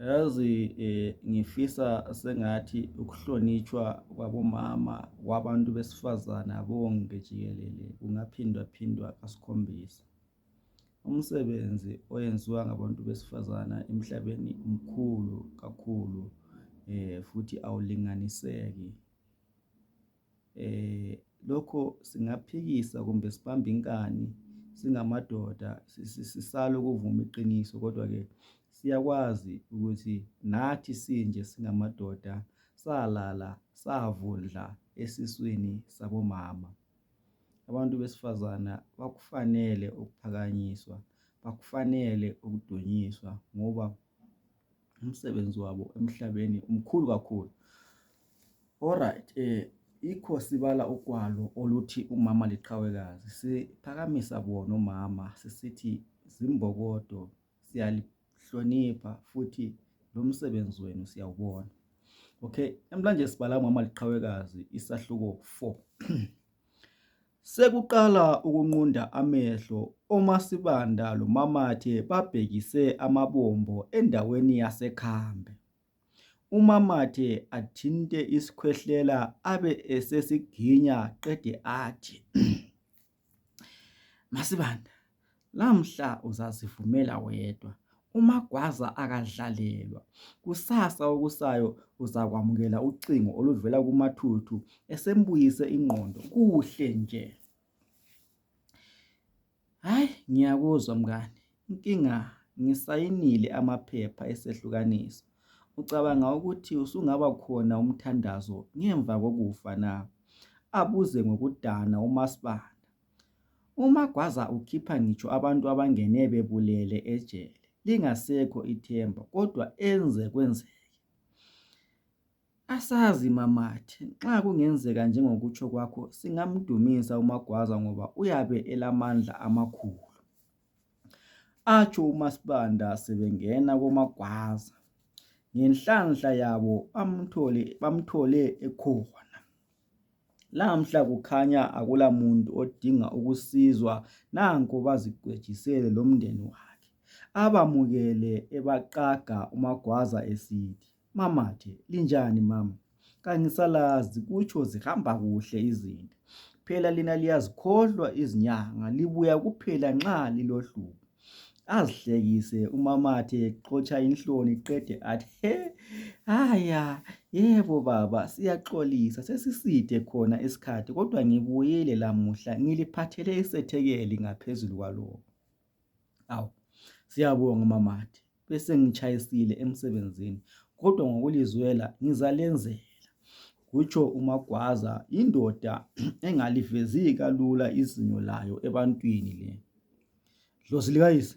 Yazi ngifisa sengathi ukuhlonitshwa kwabomama kwabantu besifazana bonke jikelele kungaphindwaphindwa kasikhombisa. Umsebenzi oyenziwa ngabantu besifazana emhlabeni mkhulu kakhulu futhi awulinganiseki. lokho singaphikisa kumbe sibambe inkani singamadoda sisale ukuvuma iqiniso kodwa ke siyakwazi ukuthi nathi sinje singamadoda salala savundla esiswini sabomama abantu besifazana bakufanele ukuphakanyiswa bakufanele ukudunyiswa ngoba umsebenzi wabo emhlabeni umkhulu kakhulu alright eh ikho sibala ukwalo oluthi umama liqhawekazi siphakamisa bona umama sisithi zimbokodo siyalihlonipha futhi lo msebenzi wenu siyawubona okay emhlanje sibala umama liqhawekazi isahluko 4 Sekuqala ukunqunda amehlo oMasibanda loMamathe babhekise amabombo endaweni yaseKhambe. UMamathe athinte isikhwehlela abe esesiginya qede athi Masibanda Lamhla uzazivumela wedwa uMagwaza akadlalelwa kusasa okusayo uzakwamukela ucingo oluvela kuMathuthu esembuyise ingqondo kuhle nje hayi ngiyakuzwa mngane inkinga ngisayinile amaphepha esehlukaniso ucabanga ukuthi usungaba khona umthandazo ngemva kokufa na abuze ngokudana umasibanda UMagwaza ukhipha ngitsho abantu abangene bebulele ejele lingasekho ithemba kodwa enze kwenzeke. Asazi mamathe nxa kungenzeka njengokutsho kwakho singamdumisa uMagwaza ngoba uyabe elamandla amakhulu. Atsho uMaSibanda sebengena koMagwaza ngenhlanhla yabo bamthole ekhona. Namhla kukhanya akula muntu odinga ukusizwa nanko bazikwejisele lomndeni wakhe abamukele ebaqaga umagwaza esithi mama the linjani mama kangisalazi kutsho zihamba kuhle izinto phela lina liyazikhohlwa izinyanga libuya kuphela nxa lilohlupho. azihlekise umamathe xotsha inhloni qede athi he haya yebo baba siyaxolisa sesiside khona isikhathi kodwa ngibuyile lamuhla ngiliphathele isethekeli ngaphezulu kwalokho awu siyabonga umamathe besengitshayisile emsebenzini kodwa ngokulizwela ngizalenzela kutsho uMagwaza indoda engalivezi kalula izinyo layo ebantwini le dlozi likayise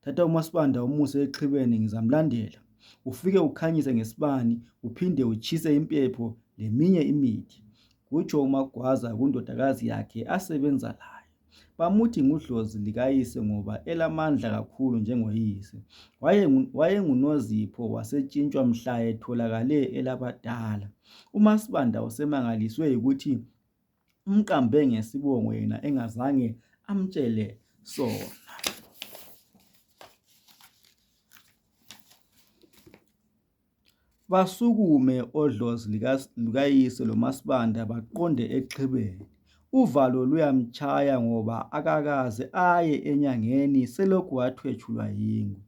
thatha umasibanda umuse exhibeni ngizamlandela ufike ukhanyise ngesibani uphinde utshise impepho leminye imithi kutsho uMagwaza kundodakazi yakhe asebenza layo Bamuthi ngudlozi lukayise ngoba elamandla kakhulu njengoyise. Wayengunozipho wasetshintshwa mhla etholakale elabadala. UMaSibanda usemangaliswe yikuthi umqambe ngesibongo yena engazange amtshele sona. Basukume odlozi lukayise lomaSibanda baqonde exhibeni. Uvalo luyamtshaya ngoba akakaze aye enyangeni selokhu wathwetshulwa yingwe.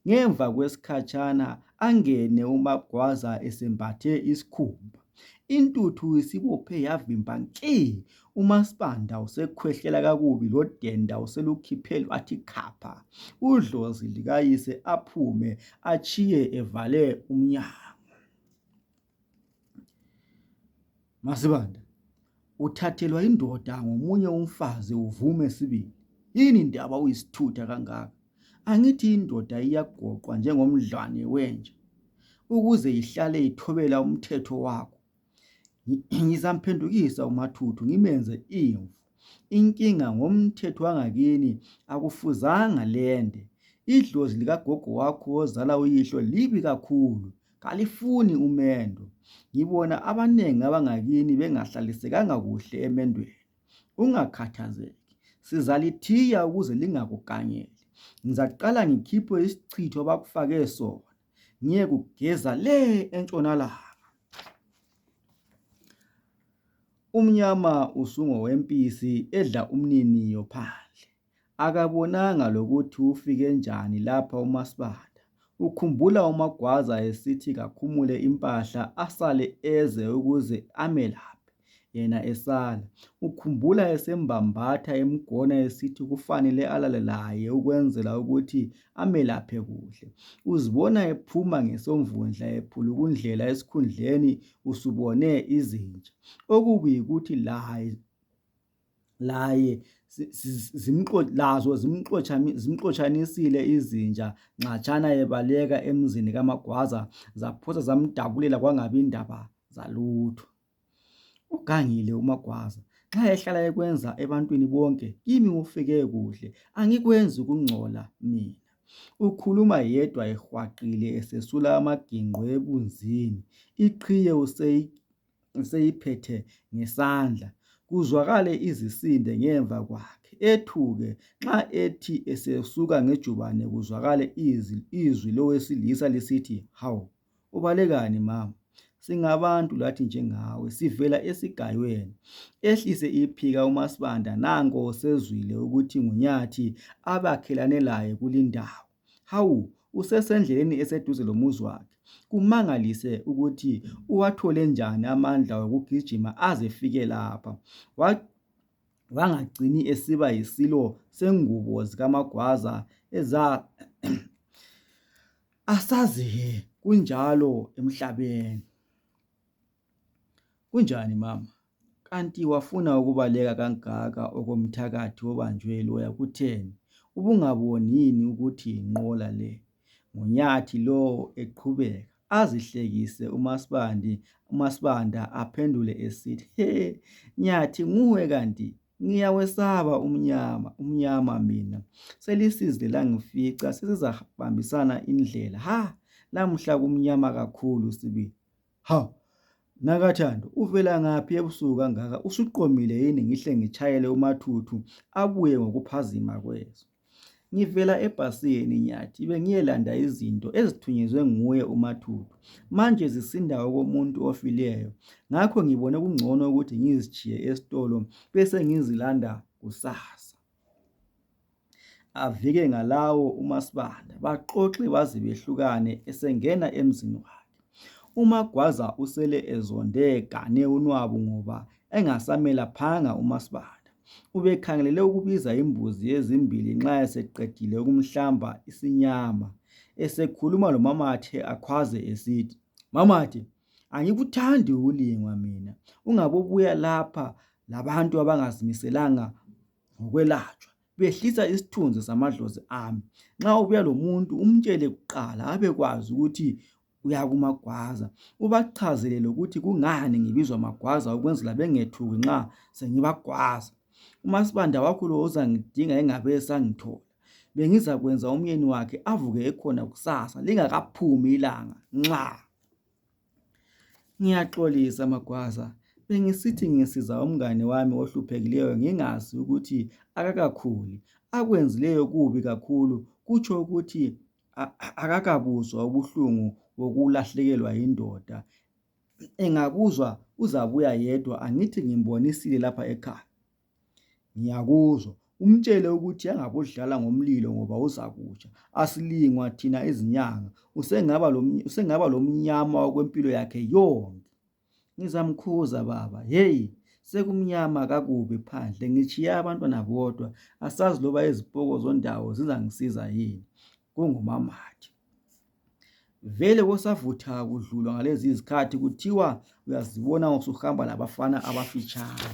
Ngemva kwesikhatshana angene uMaGwaza esembathe isikhumba. Intuthu isibophe yavimba nki. UMaSibanda usekhwehlela kakubi loDenda uselukhiphe lwathi khapha udlozi likayise aphume atshiye evale umnyango. MaSibanda, Uthathelwa indoda ngomunye umfazi uvume sibili. Yini ndaba uyisithutha kangaka? Angithi indoda iyagoqwa njengomdlwane wenja ukuze ihlale ithobela umthetho wakho. ngizamphendukisa umathuthu ngimenze imvu inkinga ngomthetho wangakini akufuzanga lende idlozi likagogo wakho wozala uyihlo libi kakhulu kalifuni umendo ngibona abanengi abangakini bengahlalisekanga kuhle emendweni ungakhathazeki sizalithiya ukuze lingakuganyeli ngizaqala ngikhiphe isichitho bakufake sona ngiyekugeza le entshonalanga. Umnyama usungowempisi edla umniniyo phandle. Akabonanga lokuthi ufike njani lapha uMasibanda. Ukhumbula uMagwaza esithi kakhumule impahla asale eze ukuze amelaphe. yena esala. Ukhumbula esembambatha emgona esithi kufanele alale laye ukwenzela ukuthi amelaphe kuhle. Uzibona ephuma ngesomvundla ephulukundlela esikhundleni usubone izinja. Okubi yikuthi laye laye lazo zimxotshanisile izinja nxatshana ebaleka emzini kaMagwaza zaphosa zamdabulela kwangabi ndaba zalutho. Ugangile uMagwaza nxa ehlala ekwenza ebantwini bonke kimi kufike kuhle angikwenzi kungcola mina. Ukhuluma yedwa ehwaqile esesula amaginqo ebunzini iqhiye useyiphethe ngesandla kuzwakale izisinde ngemva kwakhe ethuke nxa ethi esesuka ngejubane kuzwakale izwi lowesilisa lisithi hawu. Ubalekani mama? Singabantu lathi njengawe, sivela esigayweni. Ehlise iphika uMasibanda nanko sezwile ukuthi nguNyathi abakhelane laye kulindawo. Hawu, usesendleleni eseduze lomuzi wakhe. Kumangalise ukuthi uwathole njani amandla wokugijima azefike lapha. Wa wangagcini esiba yisilo sengubo zikamagwaza eza asazi he kunjalo emhlabeni kunjani mama kanti wafuna ukubaleka kangaka okomthakathi obanjwe loya kutheni ubungaboni yini ukuthi yinqola le ngunyathi lowo eqhubeka azihlekise umasibandi umasibanda aphendule esithi he nyathi nguwe kanti Ngiyawesaba umnyama, umnyama mina. Selisize langifica, sesizabambisana indlela. Ha! Lamuhla kumnyama kakhulu sibili. Ha! Nakathando, uvela ngaphi ebusuku kangaka? Usuqomile yini ngihle ngitshayele umathuthu abuye ngokuphazima kweso? Ngivela ebhasini Nyathi bengiyelanda izinto ezithunyezwe nguye uMathupha manje zisinda okomuntu ofileyo ngakho ngibone kungcono ukuthi ngizitshiye esitolo besengizilanda kusasa. Avike ngalawo umaSibanda baxoxe baze behlukane esengena emzini wakhe. UMagwaza usele ezonde egane unwabu ngoba engasamelaphanga umaSibanda. Ubekhangelele ukubiza imbuzi ezimbili nxa eseqedile ukumhlamba isinyama. Esekhuluma lomamakhe akhwaze esithi, Mamakhe, angikuthandi ukulingwa mina. Ungabobuya lapha labantu abangazimiselanga ngokwelatshwa. Behlisa isithunzi samadlozi ami. Nxa ubuya lomuntu umtshele kuqala abekwazi ukuthi uyakumagwaza ubachazele lokuthi kungani ngibizwa magwaza ukwenzela bengethuki nxa sengibagwaza umasibanda wakhula uzangidinga engabe esangithola bengizakwenza umyeni wakhe avuke ekhona kusasa lingakaphumi ilanga nxa ngiyaxolisa magwaza bengisithi ngisiza umngane wami ohluphekileyo ngingazi ukuthi akakakhuli akwenzileyo kubi kakhulu kutsho ukuthi akakabuzwa ubuhlungu bokulahlekelwa yindoda engabuzwa uzabuya yedwa angithi ngimbonisile lapha ekhaya ngiyakuzwa umtshele ukuthi angabodlala ngomlilo ngoba uzakutsha asilingwa thina izinyanga usengaba lomnyama kwempilo yakhe yonke Ngizamkhuza baba. Hey, sekumnyama kakubi phandle. Ngitshiya abantwana bodwa. Asazi loba izipoko zondawo zizangisiza yini. Kungumamathi. Vele kosavutha kudlulwa ngalezi izikhathi kuthiwa uyazibona usuhamba labafana abafitshane.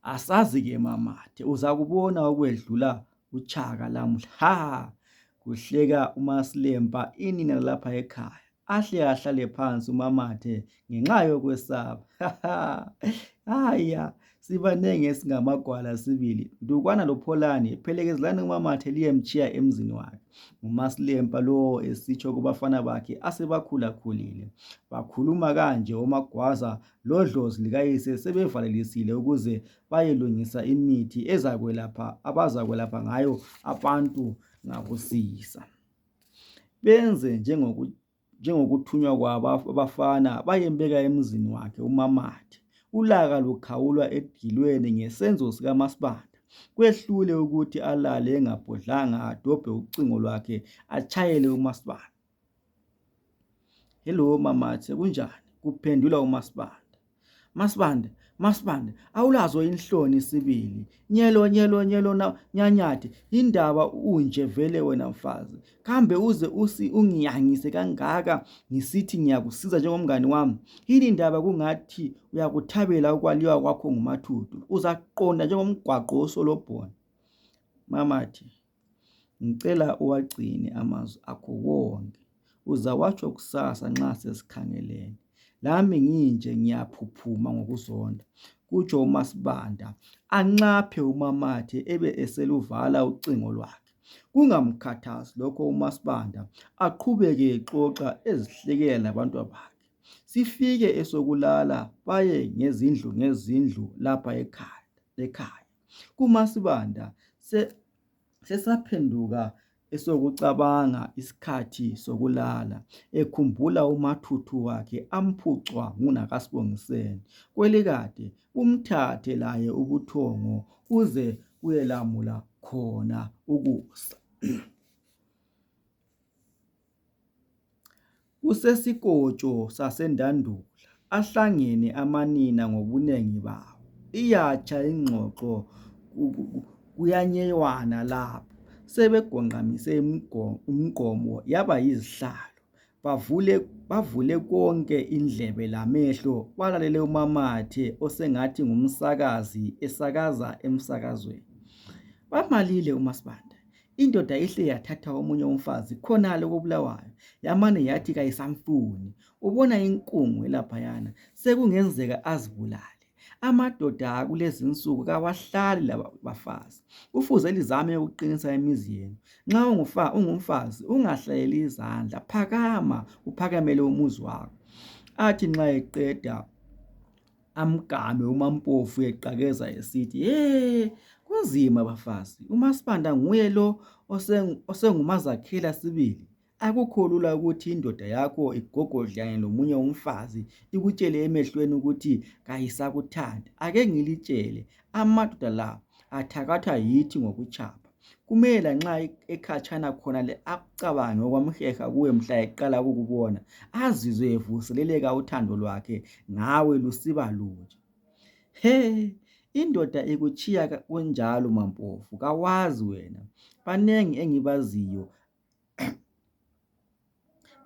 Asazi ke mamathe uzakubona okwedlula utshaka lamuhla. Ha! Kuhleka uMasilempa inina lapha ekhaya. ahle ahlale phansi umamathe ngenxa yokwesaba haya sibanengi esingamagwala sibili dukwana lopholani phelekezelani umamathe liyemtshiya emzini wakhe ngumasilempa lowo esitsho kubafana bakhe asebakhulakhulile bakhuluma kanje omagwaza lodlozi likayise sebevalelisile ukuze bayelungisa imithi ezakwelapha abazakwelapha ngayo abantu ngakusisa benze njengokuthunywa kwabo abafana bayembeka emzini wakhe umamathe ulaka lukhawula edilweni ngesenzo sikamasibanda kwehlule ukuthi alale engabhodlanga adobhe ucingo lwakhe atshayele umasibanda hello mamathe kunjani kuphendula umasibanda Masibande, Masibande, awulazo inhloni sibili. Nyelo, nyelo, nyelo, na, nyanyathi, indaba unje vele wena mfazi. Kambe uze usi ungiyangise kangaka ngisithi ngiyakusiza njengomngani wami. Yini indaba kungathi uyakuthabela ukwaliwa kwakho ngumathuthu. Uzaqonda njengomgwaqo wosolobhona. Mamathi. Ngicela uwagcine amazwi akho wonke, uzawatsho kusasa nxa sesikhangelene. Lami nginje ngiyaphuphuma ngokuzonda, kutsho uMaSibanda anxaphe umamathe ebe eseluvala ucingo lwakhe. Kungamkhathazi lokho uMaSibanda aqhubeke exoxa ezihlekela labantwabakhe. Sifike esokulala baye ngezindlu ngezindlu lapha ekhaya. kumasibanda se, sesaphenduka esokucabanga isikhathi sokulala ekhumbula umathuthu wakhe amphucwa ngunakasibongiseni kwelikade umthathe laye ubuthongo uze kuyelamula khona ukusa Kusesikotsho saseNdandula ahlangene amanina ngobunengi bawo iyatsha ingxoxo kuyanyewana lapho sebegonqamise umgqomo yaba yizihlalo bavule konke indlebe lamehlo balalele umamakathi osengathi ngumsakazi esakaza emsakazweni. Balalile omaSibanda. Indoda ihle yathatha omunye umfazi khonale kobulawayo yamane yathi kayisamfuni ubona inkungu elaphayana sekungenzeka azibulale amadoda akulezi nsuku kawahlali labafazi kufuze lizame ukuqinisa imizi yenu nxa ungufa ungumfazi ungahlaleli izandla phakama uphakamele umuzi wakho athi nxa eqeda amgame umampofu eqakeza esithi ye kunzima bafazi umasibanda nguye lo osengumazakhela sibili akukho lula ukuthi indoda yakho igogodlane lomunye umfazi ikutshele emehlweni ukuthi kayisakuthandi ake ngilitshele Amadoda la athakathwa yithi ngokutshapha. Kumele lanxa ekhatshana khonale akucabange okwamheha kuwe mhla eqala ukukubona azizwe evuseleleka uthando lwakhe ngawe lusiba lutsha. He! Indoda ikutshiya kunjalo maMpofu kawazi wena. Banengi engibaziyo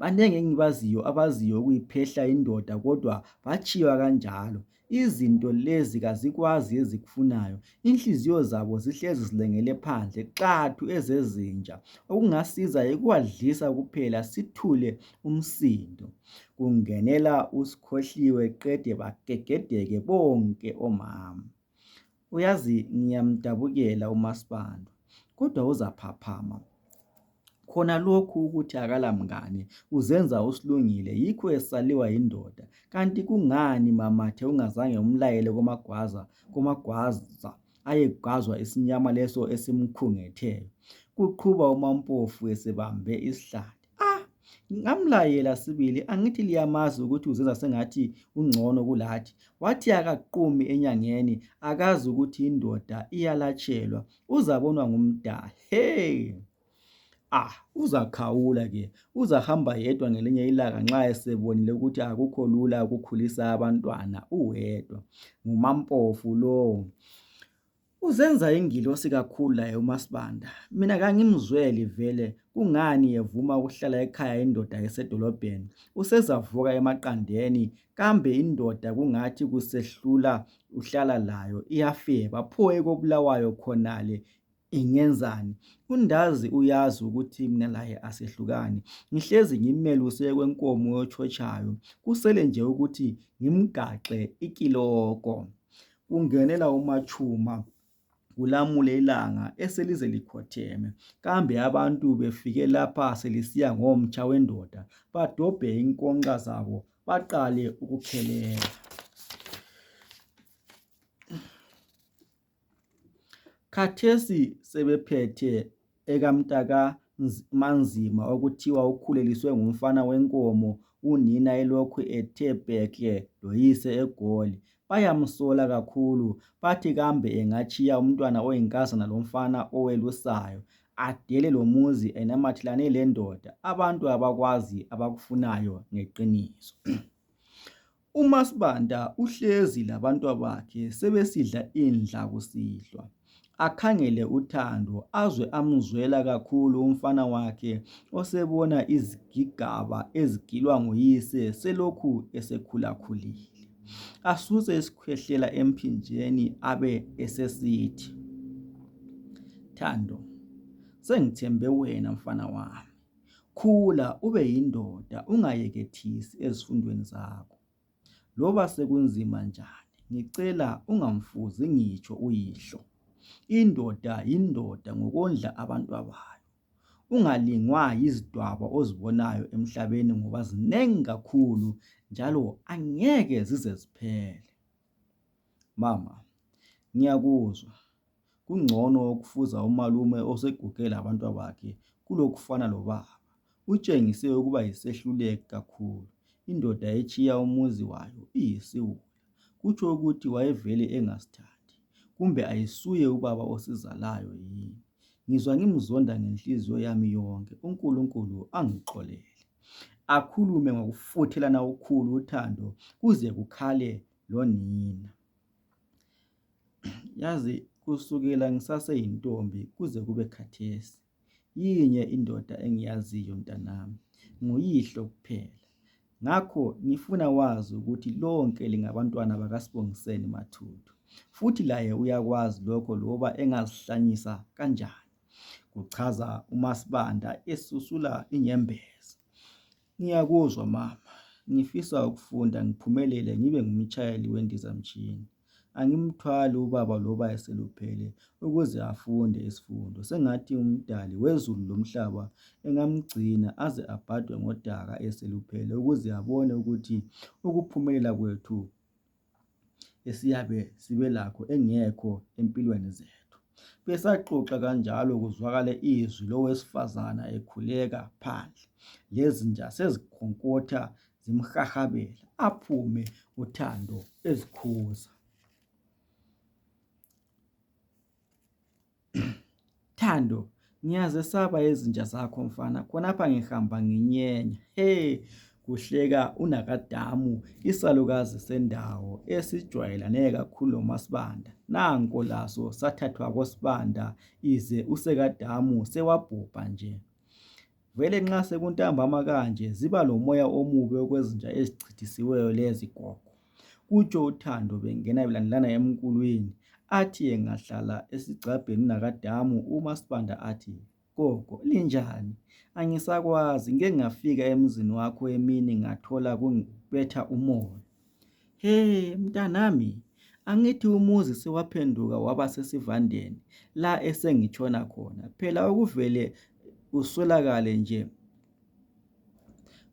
Banengi engibaziyo abaziyo ukuyiphehla indoda kodwa batshiywa kanjalo. Izinto lezi kazikwazi ezikufunayo. Inhliziyo zabo zihlezi zilengele phandle qathu ezezinja. Okungasiza yikubadlisa kuphela sithule umsindo. Kungenela uSkhohliwe qede bagegedeke bonke omama. Uyazi ngiyamdabukela umaSibanda kodwa uzaphaphama khona lokhu ukuthi akala mngane uzenza usilungile yikho esaliwa yindoda kanti kungani mamathe ungazange umlayele komagwaza komagwaza ayegwazwa isinyama leso esimkhungetheyo kuqhuba umampofu esebambe isihlathi Ah, ngamlayela sibili angithi liyamazi ukuthi uzenza sengathi ungcono kulathi. Wathi akaqumi enyangeni akazi ukuthi indoda iyalatshelwa uzabonwa ngumdali. Hey! ah uzakhawula ke uzahamba yedwa ngelinye ilanga nxa esebonile ukuthi akukho lula ukukhulisa abantwana uwedwa ngumampofu lowo Uzenza ingilosi kakhulu laye uMasibanda. Mina kangimzweli vele kungani yevuma ukuhlala ekhaya indoda esedolobheni. Usezavuka emaqandeni kambe indoda kungathi kusehlula uhlala layo iyafeba pho ekobulawayo khonale ingenzani undazi uyazi ukuthi mina laye asehlukani ngihlezi ngimeluse kwenkomo yotshotshayo kusele nje ukuthi ngimgaxe ikiloko Kungenela umatshuma kulamule ilanga eselize likhotheme. Kambe abantu befike lapha selisiya ngomtsha wendoda badobhe inkonxa zabo baqale ukukhelela. Khathesi sebephethe ekamntaka Manzima okuthiwa ukhuleliswe ngumfana wenkomo unina elokhu ethe bhekle loyise eGoli. Bayamsola kakhulu bathi kambe engatshiya umntwana oyinkazana lomfana owelusayo adele lomuzi enamathelane lendoda abantu abakwazi abakufunayo ngeqiniso. UmaSibanda uhlezi labantwabakhe sebesidla indla kusihlwa. Akhangele uThando azwe amuzwela kakhulu umfana wakhe osebona izigigaba ezigilwa nguyise selokhu esekhulakhulile. Asuse isikhwehlela emphinjeni abe esesithi, Thando, sengithembe wena mfana wami. Khula ube yindoda ungayekethisi ezifundweni zakho loba sekunzima njani ngicela ungamfuzi ngitsho uyihlo. Indoda yindoda ngokondla abantwabayo ungalingwa yizidwaba ozibonayo emhlabeni ngoba zinengi kakhulu njalo angeke zize ziphele. Mama ngiyakuzwa Kungcono ukufuza umalume oseguge labantwabakhe kulokufana lobaba. Utshengise ukuba yisehluleki kakhulu. Indoda etshiya umuzi wayo iyisiwula. Kutsho ukuthi wayevele engasithandi. Kumbe ayisuye ubaba osizalayo yini. Ngizwa ngimzonda ngenhliziyo yami yonke. UNkulunkulu angixolele. Akhulume ngokufuthelana okukhulu uthando kuze kukhale lonina. Yazi kusukela ngisaseyintombi kuze kube khathesi yinye indoda engiyaziyo mntanami nguyihlo kuphela ngakho ngifuna wazi ukuthi lonke lingabantwana bakaSbongiseni Mathupha futhi laye uyakwazi lokho loba engazihlanyisa kanjani kuchaza uMasibanda esusula inyembezi ngiyakuzwa mama ngifisa ukufunda ngiphumelele ngibe ngumtshayeli wendizamtshina Angimthwali ubaba loba eseluphele ukuze afunde isifundo. Sengathi uMdali wezulu lomhlaba engamgcina aze abhadwe ngodaka eseluphele ukuze abone ukuthi ukuphumelela kwethu esiyabe sibelakho engekho empilweni zethu. Besaxoxa kanjalo kuzwakale izwi lowesifazana ekhuleka phandle lezinja sezikhonkotha zimhahabela aphume uthando ezikhuza thando ngiyazesaba izinja zakho mfana khonapha ngihamba nginyenya he kuhleka unakadamu isalukazi sendawo esijwayelane kakhulu lomasibanda nanko laso sathathwa kosibanda ize usekadamu sewabhubha nje Vele nxa sekuntambama kanje ziba lomoya omubi okwezinja ezichithisiweyo lezi gogo, kutsho uThando bengena belandelana emkulwini athi engahlala esigcabheni nakadamu umaSibanda athi, Gogo linjani? Angisakwazi ngike ngafika emzini wakho emini ngathola kubetha umoya. He, mntanami, angithi umuzi sewaphenduka waba sesivandeni la esengitshona khona. Phela okuvele uswelakale nje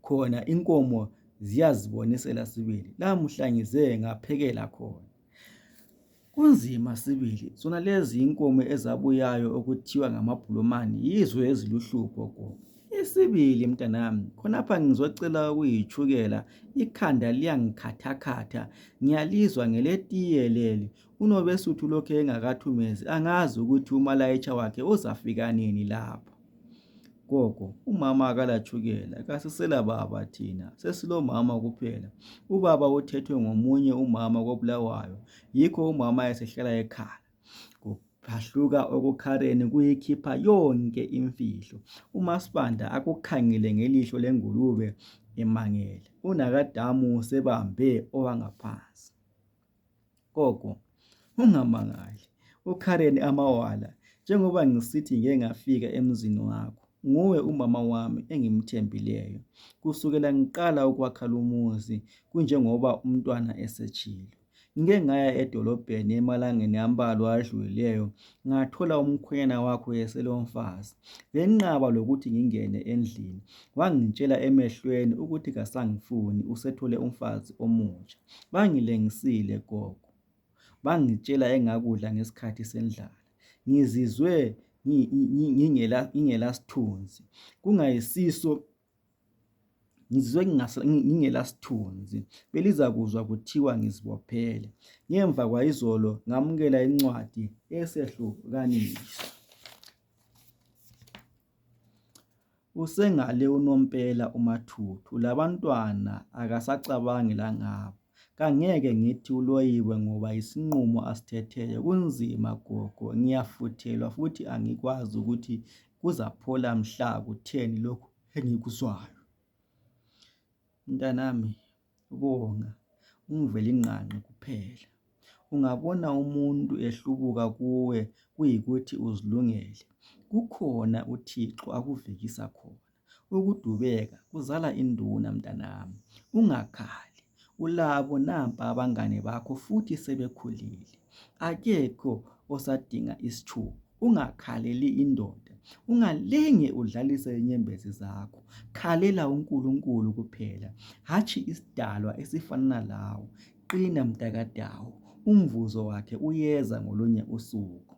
khona inkomo ziyazibonisela sibili. Lamuhla ngize ngaphekela khona. Kunzima sibili, zona lezi inkomo ezabuyayo okuthiwa ngamabhulumani yizo eziluhlupho gogo. Isibili mntanami, khonapha ngizocela ukuyitshukela, ikhanda liyangikhathakhatha, ngiyalizwa ngeletiye leli, uNobesuthu lokhe engakathumezi angazi ukuthi umalayitsha wakhe uzafika nini lapho. Gogo, umama akalatshukela, kasisela baba thina, sesilomama kuphela. Ubaba uthethwe ngomunye umama koBulawayo, yikho umama esehlala ekhala. Kuphahluka okukhaleni kuyikhipha yonke imfihlo. UMaSibanda akukhangele ngelihlo lengulube emangele. UNakadamu usebambe owangaphansi. Gogo, ungamangali, uKaren amawala njengoba ngisithi ngike ngafika emzini wakho. Nguwe umama wami engimthembileyo. Kusukela ngiqala ukwakha lumuzi kunjengoba umntwana esetshilo. Ngike ngaya edolobheni emalangeni ambalwa adlulileyo ngathola umkhwenyana wakho eselomfazi. Benqaba lokuthi ngingene endlini. Wangitshela emehlweni ukuthi kasangifuni usethole umfazi omutsha. Bangilengisile gogo bangitshela engakudla ngesikhathi sendlala ngizizwe ngingela sthunzi kungayisiso ngizizwe ngingela sthunzi belizakuzwa kuthiwa ngizibophele ngemva kwayizolo ngamukela incwadi yesehlukaniso. Usengale unompela umathuthu labantwana akasacabangi langabo kangeke ngithi uloyiwe ngoba yisinqumo asithetheyo kunzima gogo ngiyafuthelwa futhi angikwazi ukuthi kuzaphola mhla kutheni lokhu engikuzwayo mntanami Bonga uMvelinqangi kuphela. Ungabona umuntu ehlubuka kuwe kuyikuthi uzilungele. Kukhona uThixo akuvikisa khona. Ukudubeka kuzala induna mntanami. Ungakhali. Ulabo nampa abangane bakho futhi sebekhulile. akekho osadinga isitshuku ungakhaleli indoda ungalinge udlalise inyembezi zakho khalela uNkulunkulu kuphela hatshi isidalwa esifanana lawo qina mntakadawo umvuzo wakhe uyeza ngolunye usuku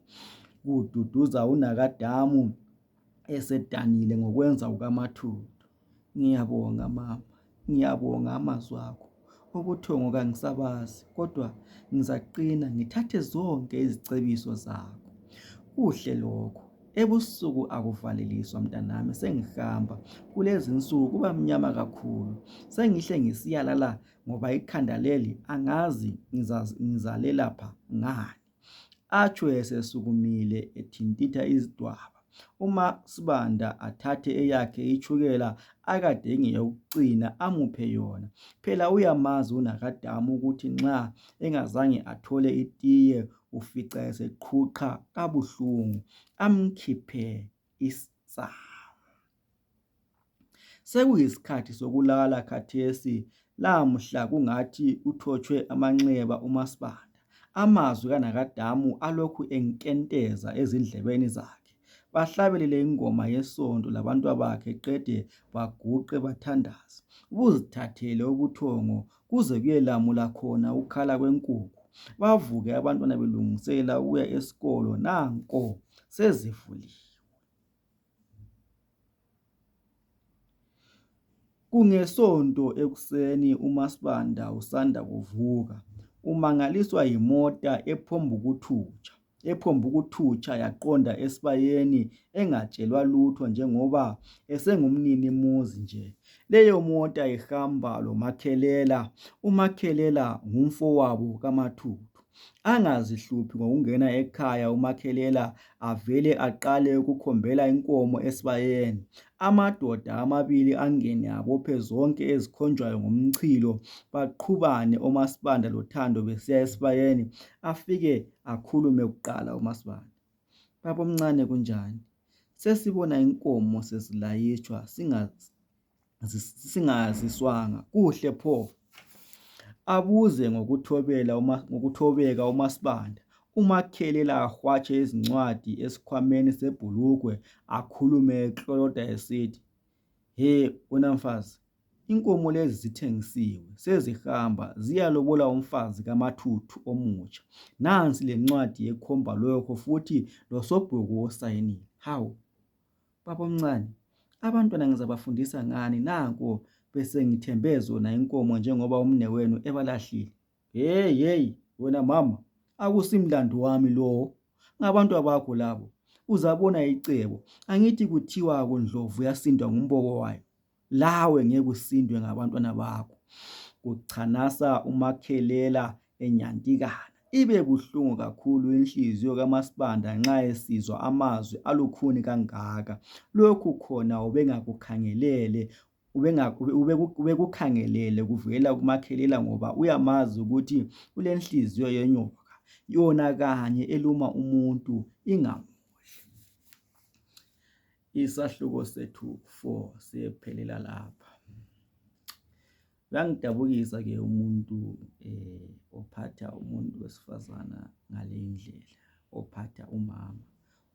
kududuza unakadamu esedanile ngokwenza kukaMathupha. Ngiyabonga mama, ngiyabonga amazwi akho. Ubuthongo kangisabazi kodwa ngizaqina ngithathe zonke izicebiso zakho. Kuhle lokho. Ebusuku akuvaleliswa mntanami, sengihamba. Kulezinsuku kuba mnyama kakhulu. Sengihle ngisiyalala ngoba ikhanda leli angazi ngizalelapha ngani. Atsho esesukumile ethintitha isidwaba umaSibanda athathe eyakhe itshukela akade ingeyokucina amuphe yona phela uyamazi unakadamu ukuthi nxa engazange athole itiye ufica eseqhuqha kabuhlungu amkhiphe isaka. Sekuyisikhathi sokulala khathesi lamuhla kungathi uthotshwe amanxeba umaSibanda amazwi kanakAdamu alokhu enkenteza ezindlebeni zakhe bahlabelele ingoma yesonto labantwabakhe qede baguqe bathandaze buzithathele ubuthongo kuze kuyelamula khona ukukhala kwenkukhu bavuke abantwana belungisela ukuya esikolo nanko sezivulile. Kungesonto ekuseni umaSibanda usanda kuvuka umangaliswa yimota ephonguthutsha yaqonda esibayeni engatshelwa lutho njengoba esengumnini muzi nje leyo mota ihamba lomakhelela umakhelela ngumfowabo kaMathupha. angazihluphi ngokungena ekhaya umakhelela avele aqale ukukhombela inkomo esibayeni amadoda amabili angene abophe zonke ezikhonjwayo ngomchilo baqhubane omasibanda lothando besiya esibayeni afike akhulume kuqala umasibanda babomncane kunjani sesibona inkomo sezilayitshwa singazi singaziswanga kuhle pho abuze ngokuthobela uma ngokuthobeka umasibanda umakhele lahwatshe izincwadi esikhwameni sebhulukwe akhulume ekloloda esithi he wena mfazi inkomo lezi zithengisiwe sezihamba ziyalobola umfazi kamathuthu omutsha nansi lencwadi ekhomba lokho futhi losobhuku osayinile hawu Babomncane, abantwana ngizabafundisa ngani nanko besengithembe zona inkomo njengoba umnewenu ebalahlile. Hey hey wena mama, akusimlando wami lowo. Ngabantu abakho labo. Uzabona icebo. Angithi kuthiwa kundlovu yasindwa ngumboko wayo. lawe ngeke usindwe ngabantwana bakho kuchanasa umakhelela enyantikana ibe buhlungu kakhulu inhliziyo kamasibanda nxa esizwa amazwi alukhuni kangaka lokhu khona ubengakukhangelele ubekukhangelele kuvela kumakhelela ngoba uyamazi ukuthi ulenhliziyo yenyoka yona kanye eluma umuntu ingamudli Isahluko sethu 4 siyephelela lapha. Uyangidabukisa ke umuntu eh ophatha umuntu wesifazana ngale indlela, ophatha umama,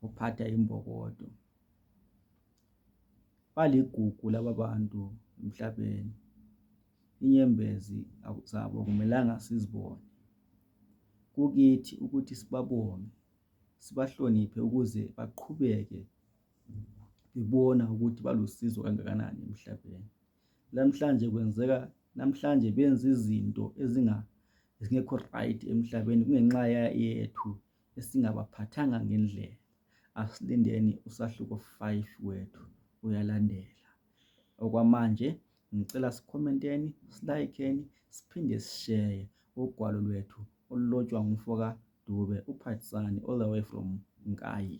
ophatha imbokodo. Baligugu laba bantu emhlabeni. Inyembezi zabo akumelanga sizibone. Kukithi ukuthi sibabonge sibahloniphe ukuze baqhubeke bebona ukuthi balusizo kangakanani emhlabeni lamhlanje kwenzeka namhlanje benza izinto ezinga ezingekho right emhlabeni kungenxa yethu esingabaphathanga ngendlela asilindeni usahluko 5 wethu uyalandela okwamanje Ngicela sikhomenteni, silayikheni siphinde sisheye ugwalo lwethu olulotshwa ngumfoka Dube uphathsani all the way from Nkayi.